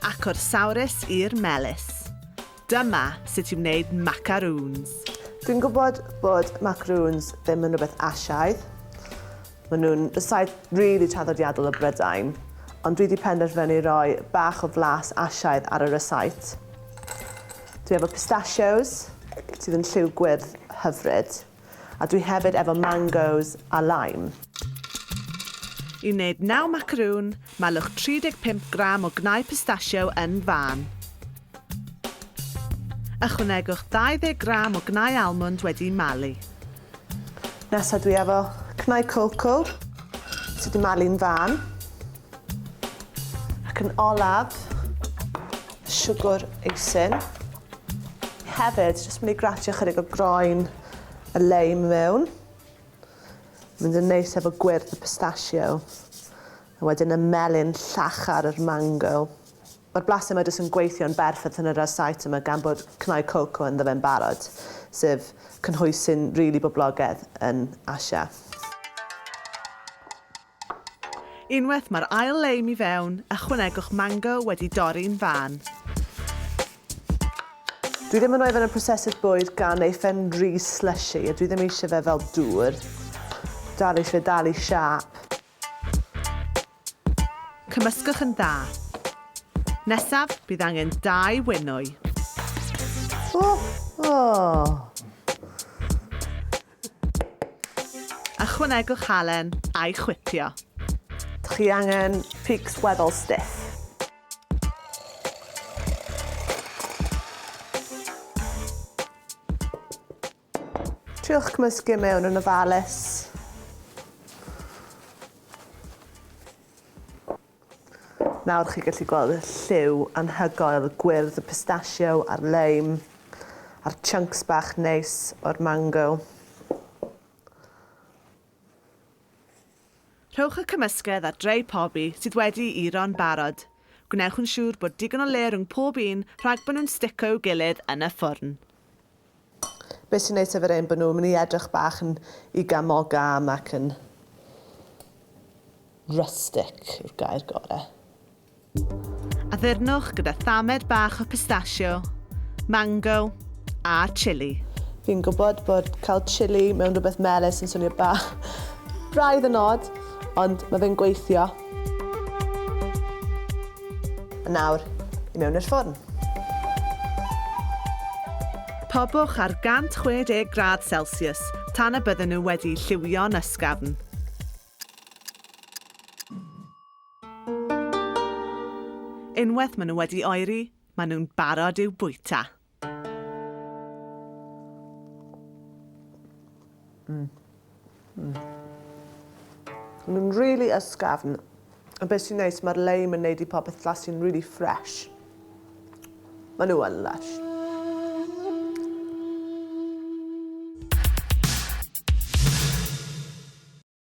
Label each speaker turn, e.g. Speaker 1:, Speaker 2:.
Speaker 1: Ac o'r sawrus i'r melys. Dyma sut i wneud macaroons. Dwi'n gwybod
Speaker 2: bod macaroons ddim yn rhywbeth Asiaidd. Maen nhw'n saith really traddodiadol o Brydain. Ond dwi wedi penderfynu roi bach o flas Asiaidd ar y rysáit. Dwi efo pistachios, sydd yn lliw gwyrdd hyfryd. A dwi hefyd efo mangos a lime.
Speaker 1: I wneud naw macaroon, malwch 35 gram o gnau pistachio yn fân. Ychwanegwch 20 gram o gnau almwnd wedi'u malu.
Speaker 2: Nesa dwi efo cnau coco sy 'di malu'n fân. Ac yn olaf, siwgr eisin. Hefyd, jyst mynd i gratio chydig o groen y leim mewn. Mynd yn neis efo gwyrdd y pistachio. A wedyn y melyn llachar yr mango. Mae'r blas yma jyst yn gweithio'n berffaith yn yr arsait yma gan bod cnau coco yn ddyfa'n barod, sef cynhwys sy'n rili really boblogaidd yn Asia.
Speaker 1: Unwaith mae'r ail leim i fewn, ychwanegwch mango wedi dorri'n fân.
Speaker 2: Dwi ddim yn rhoi fe yn y prosesydd bwyd gan neu fe'n rhy slushy a dwi ddim eisiau fe fel dŵr. Dal eisiau fe dal i siâp.
Speaker 1: Cymysgwch yn dda. Nesaf, bydd angen dau wenwy. O! O! Ychwanegwch halen a'i chwipio. Chi
Speaker 2: angen pigs weddol stiff. Triwch cymysgu mewn yn ofalus. Nawr chi'n gallu gweld y lliw anhygoel gwyrdd y pistachio a'r leim a'r chunks bach neis o'r mango.
Speaker 1: Rhowch y cymysgedd ar dray pobi sydd wedi'i ro'n barod. Gwnewch yn siŵr bod digon o le rhwng pob un rhag bod nhw'n stico i'w gilydd yn y ffwrn.
Speaker 2: Be sy'n neis efo'r ein bod nhw'n mynd i edrych bach yn iga moga am ac yn rustic yw'r gair gore. Addurnwch
Speaker 1: gyda thamed bach o pistachio, mango a chili. Fi'n gwybod
Speaker 2: bod cael chili mewn rhywbeth melys yn swnio bach braidd yn od, ond mae fe'n gweithio. Nawr, i mewn i'r ffwrn.
Speaker 1: Pobwch ar 160 gradd Celsius tan y bydden nhw wedi lliwio'n ysgafn. Unwaith maen nhw wedi oeri, maen nhw'n barod i'w bwyta.
Speaker 2: Mm. Mm. Mae'n really ysgafn. A beth sy'n neis, mae'r leim yn neud i popeth flasu'n really fresh. Mae nhw yn lush.